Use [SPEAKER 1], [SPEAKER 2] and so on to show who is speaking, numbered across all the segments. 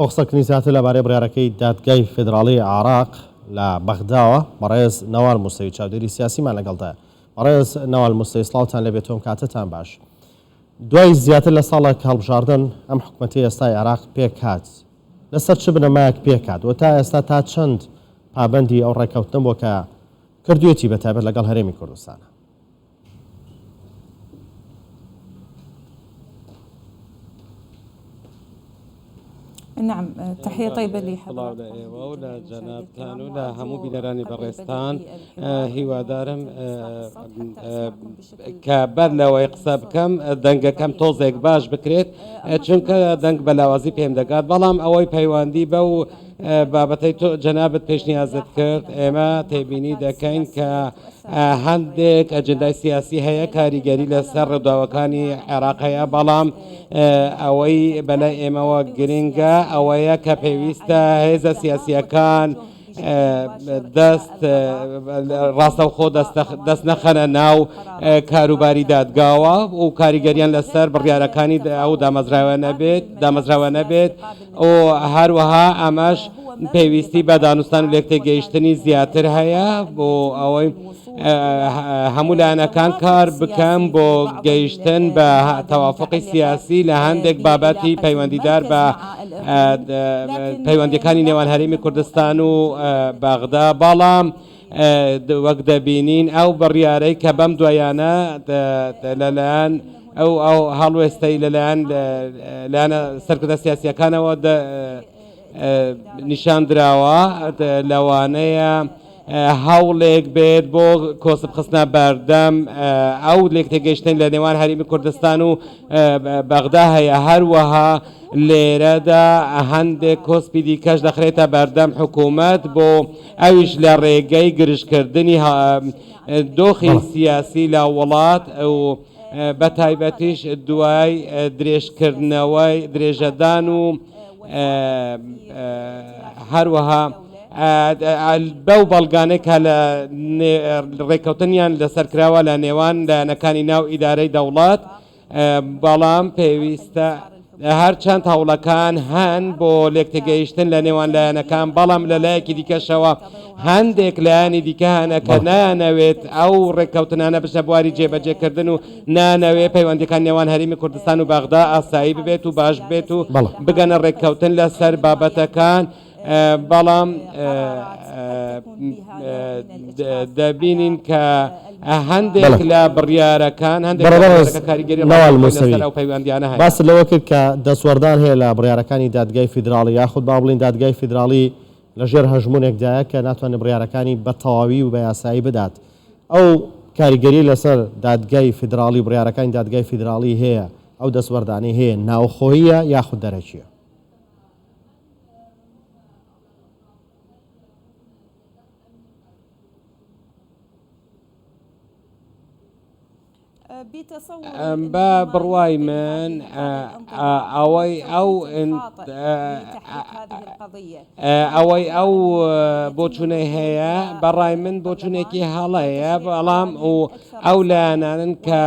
[SPEAKER 1] موحسن کنیساتی لەبارەی بڕیارەکەی دادگای فیدراڵیی عێراق لە بەغداوە، بەڕێز نەوال موسەوی چاودێری سیاسیمان لەگەڵدایە. بەڕێز نەوال موسەوی سڵاوتان لێ بێت و کاتتان باش. دوای زیاتر لە ساڵێک هەڵبژاردن، ئەم حکومەتەی ئێستای عێراق پێکهات. لەسەر چ بنەمایەک پێکهات و تا ئێستا تا چەند پابەندی ئەو ڕێککەوتنە بووە کە کردوویەتی بەتایبەت لەگەڵ هەرێمی کوردستان؟
[SPEAKER 2] سڵاو لە ئێوە و
[SPEAKER 3] لە جەنابتان و لە هەموو بینەرانی بەڕێزتان هیوادارم کە بەر لەوەی قسە بکەم دەنگەکەم تۆزێک باش بکرێت چونکە دەنگ بە لاوازی پێم دەگات بەڵام ئەوەی پەیوەندی بە و بابەتەی تۆ جەنابت پێشنیازت کرد ئێمە تێبینی دەکەین کە هەندێک ئەجندای سیاسی هەیە کاریگەری لەسەر ڕێداوەکانی عێراق هەیە بەڵام ئەوەی بەلای ئێمەوە گرنگە ئەوەیە کە پێویستە هێزە سیاسیەکان دەست ڕاستەوخۆ دەست نەخەنە ناو کاروباری دادگاوە و کاریگەریان لەسەر بڕیارەکانی ئەو دامەزراوە نەبێت دامەزراوە نەبێت و هەروەها ئەمەش پێویستی بە دانوستان و لێکتێگەیشتنی زیاتر هەیە بۆ ئەوەی هەموو لایەنەکان کار بکەم بۆ گەیشتن بە تەوافقی سیاسی لە هەندێک بابەتی پەیوەندیدار بە پەیوەندەکانی نێوان هەرێمی کوردستان و بەغدا بەڵام وەک دەبینین ئەو بڕیارەی کە بەم دوایانە لەلایەن ئەو ئەو هەڵوێستەی لەلایەن لایەنە سەرکردە سیاسیەکانەوە نیشان دراوە لەوانەیە هەوڵێک بێت بۆ کۆسب خستنە بەردەم ئەو لێک تێگەشتن لە نێوان هەرمی کوردستان و بەغدا هەیە هەروەها لێرەدا هەندێک کۆسپی دیکەش دەخرێتە بەردەم حکوومەت بۆ ئەویش لە ڕێگەی گرژکردنی دۆخی سیاسی لە وڵات و بە تایبەتیش دوای درێژکردنەوەی درێژەدان و هەروەها بەو بەڵگانەی کە لە ڕێککەوتنیان لەسەر کراوە لە نێوان لایەنەکانی ناو ئیدارەی دەوڵەت بەڵام پێویستە هەرچەند هەوڵەکان هەن بۆ لێکتێگەیشتن لە نێوان لایەنەکان بەڵام لە لایەکی دیکەشەوە هەندێک لایەنی دیکە هەنە کە نانەوێت ئەو ڕێککەوتنانە بچە بواری جێبەجێکردن و نانەوێ پەیوەندەکان نێوان هەرێمی کوردستان و بەغدا ئاسایی ببێت و باش بێت و بگەنە ڕێککەوتن لەسەر بابەتەکان بەڵام دەبینین کە هەندێک لە بڕیارەکان هەندێکیانە باس لەوە کرد کە
[SPEAKER 1] دەسوەردان هەیە لە بڕارەکانی دادگای فیدراڵی یاخود با بڵین دادگای فیدراڵی لەژێر هەژمونێکدایە کە ناتوانێت بڕارەکانی بە تەواوی و بە یاسایی بدات ئەو کاریگەری لەسەر دادگای فیدراڵی بڕارەکانی دادگای فیدراڵی هەیە ئەو دەسوەردانی هەیە ناوخۆیە یاخود دەرەکیە
[SPEAKER 3] بە بڕوای من ئەوەی ئەو ئەوەی ئەو بۆچونەی هەیە بەڕای من بۆچونێکی هەڵەیە بەڵام و ئەو لایەنانن کە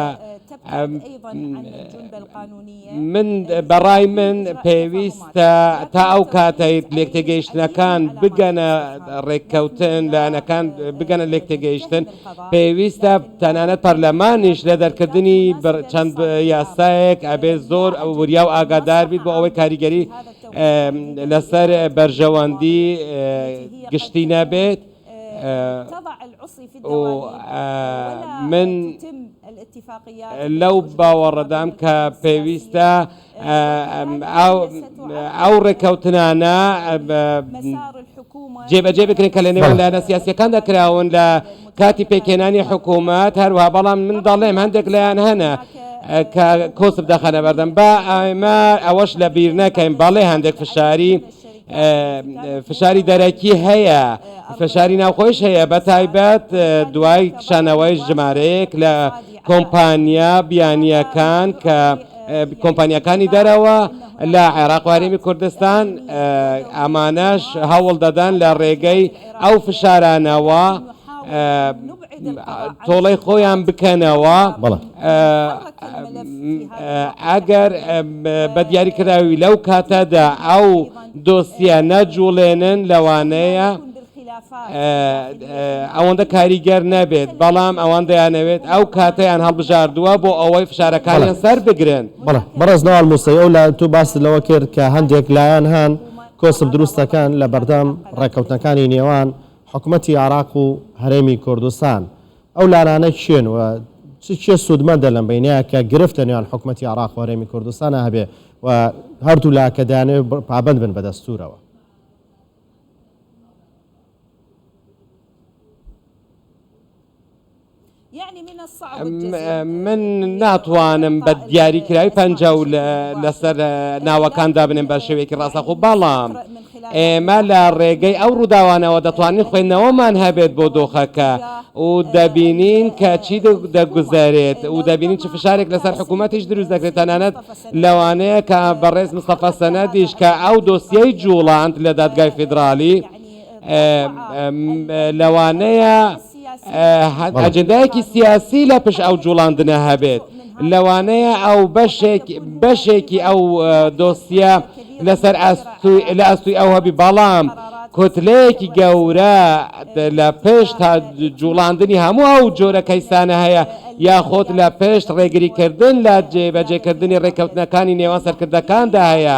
[SPEAKER 3] من بە ڕای من پێویستە تا ئەو کاتەی لێکتێگەیشتنەکان بگەنە ڕێککەوتن لایەنەکان بگەنە لێکتێگەیشتن پێویستە تەنانەت پەرلەمانیش لە دەرکردنی چەند یاسایەک ئەبێ زۆر ئەو وریا و ئاگادار بیت بۆ ئەوەی کاریگەری لەسەر بەرژەوەندی گشتی نەبێت. و من لەو باوەڕەدام کە پێویستە ئەو ڕێککەوتنانە جێبەجێ بکرێن کە لە نێوان لایەنە سیاسیەکاندا کراون لە کاتی پێکهێنانی حکوومەت هەروە بەڵام من دەڵێم هەندێک لایەن هەنە کە کۆسب دەخەنە بەردەم بە ئایمار ئەوەش لە بیر نەکەین بەڵێ هەندێک فشاری فشاری دەرەکی هەیە فشاری ناوخۆش هەیە بە تایبەت دوای کشانەوەی ژمارەیەک لە کۆمپانیا بیانیەکان کە کۆمپانیەکانی دەرەوە لە عێراق وارێمی کوردستان ئامانەش هەوڵ دەدەن لە ڕێگەی ئەو فشارانەوە تۆڵەی خۆیان بکەنەوە ئەگەر بە دیاریکراوی لەو کاتەدا ئەو دۆسیە نەجوڵێنن لەوانەیە ئەوەندە کاریگەر نەبێت بەڵام ئەوان دەیانەوێت ئەو کاتیان هەڵبژاردووە بۆ ئەوەی فشارەکانیان سەر بگرن بەڕێز ناوال
[SPEAKER 1] موسەی ئەو لایەن تو باست لەوە کرد کە هەندێک لایەن هەن کۆسپ دروستەکەن لە بەردەم ڕێککەوتنەکانی نێوان حکومەتی عێراق و هەرێمی کوردستان ئەو لانانە کێن و چ کێ سوودمەندە لەم بەینەیە کە گرفت لە نێوان حکومەتی عێراق و هەرێمی کوردستانە هەبێ و هەردوو لا کە دەیانەوێ پابەند بن بە دەستوورەوە من ناتوانم بە دیاریکراوی پەنجا و لەسەر ناوەکان دابنێن بە شێوەیەکی ڕاستەخۆ بەڵام ئێمە لە ڕێگەی ئەو ڕووداوانەوە دەتوانین خوێندنەوەمان هەبێت بۆ دۆخەکە و دەبینین کە چی دەگوزارێت و دەبینین چ فشارێک لەسەر حکوومەتیش دروست دەکرێت تەنانەت لەوانەیە کە بەڕێز مستەفا سەنەدیش کە ئەو دۆسیەی جوڵاند لە دادگای فیدراالی لەوانەیە ئەجندایەکی سیاسی لە پش ئەو جوڵاندنە هەبێت لەوانەیە ئەو بەشێکی ئەو دۆسیە لەسەر لە ئەستوی ئەو هەبی بەڵام کوتلەیەکی گەورە لە پێشت تا جوڵاندنی هەموو ئەو جۆرە کەیسانە هەیە یاخۆت لە پێشت ڕێگریکردن لە جێبەجێکردنی ڕێککەوتنەکانی نێوان سەرکردەکاندا هەیە.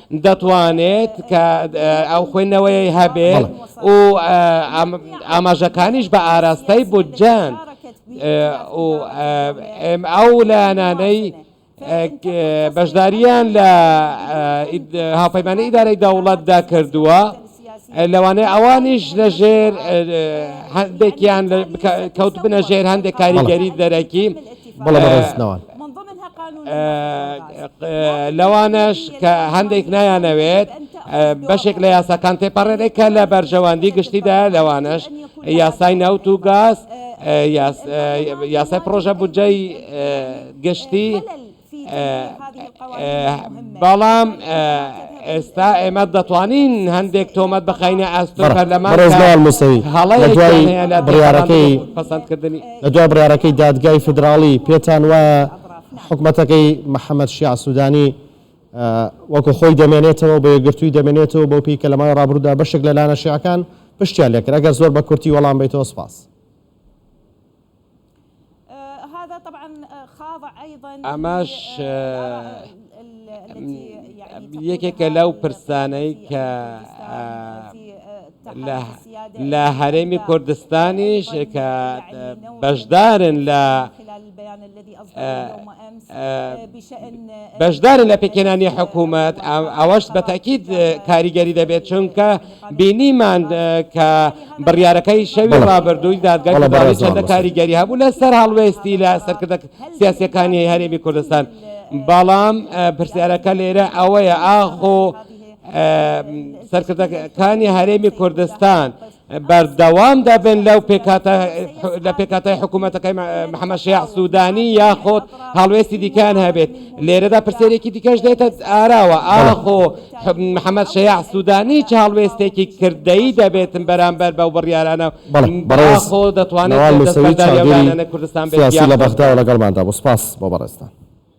[SPEAKER 1] دەتوانێت کە ئەو خوێندنەوەی هەبێت و ئاماژەکانیش بە ئاراستەی بودجەن و ئەو لایەنانەی بەشداریان لە هاوپەیمانی ئیدارەی دەوڵەتدا کردووە. لەوانەیە ئەوانیش لە ژێر هەندێکیان کەوت بنە ژێر هەندێک کاریگەری دەرەکی بڵێستنەوە لەوانەش کە هەندێک نایانەوێت بەشێک لە یاساکان تێپەڕێنێک کە لە بەرژەوەندی گشتیدا لەوانەش یاسای ناوت و گاز یاسای پرۆژە بودجەی گشتی بەڵام ئێستا ئێمە دەتوانین هەندێک تۆمەت بخینە ئەست بڕارەکەی پسندکردنی لە دو بڕارەکەی دادگای فدراڵی پێتان وایە حکوومەتەکەی محەممەد شیع سوودانی وەکو خۆی دەمێنێتەوە بۆ یەگرتووی دەمێنێتەوە بۆ پێی کە لە ماوەی ڕابرودا بەشێک لە لایەنە شیعەکان پشتیان لێکرا گەر زۆر بە کورتی وەڵام بیتەوە سپاس ئەمەش یەکێکە لەو پرسانەی کە لە هەرێمی کوردستانیش کە بەشدارن لە بەشدارن لە پێکهێنانی حکوومەت ئەوەش بە تاکیید کاریگەری دەبێت چونکە بینیمان کە بڕیارەکەی شەوی ڕابردووی دادگای فدراڵی چەندە کاریگەری هەبوو لەسەر هەڵوێستی لە سەرکردە سیاسەکانی هەرێمی کوردستان بەڵام پرسیارەکە لێرە ئەوەیە ئاخۆ سەرکردەکانی هەرێمی کوردستان بەردەوام دەبن لەو پێکاتە لە پێکاتای حکوومەتەکەی محەممە شیاع سوودانی یاخۆت هەڵوێستی دیکان هەبێت لێرەدا پرسێرێکی دیکەش دێتە ئاراوە ئاخۆ محەممەد شیاع سوودانی چ هەڵوێستێکی کردەی دەبێتن بەرامبەر بەو بڕیارانە بەڕێخۆ دەتوانێت کوردستان لە بەغدا لەگەڵماندا بۆ سپاس بۆ بەڕێستان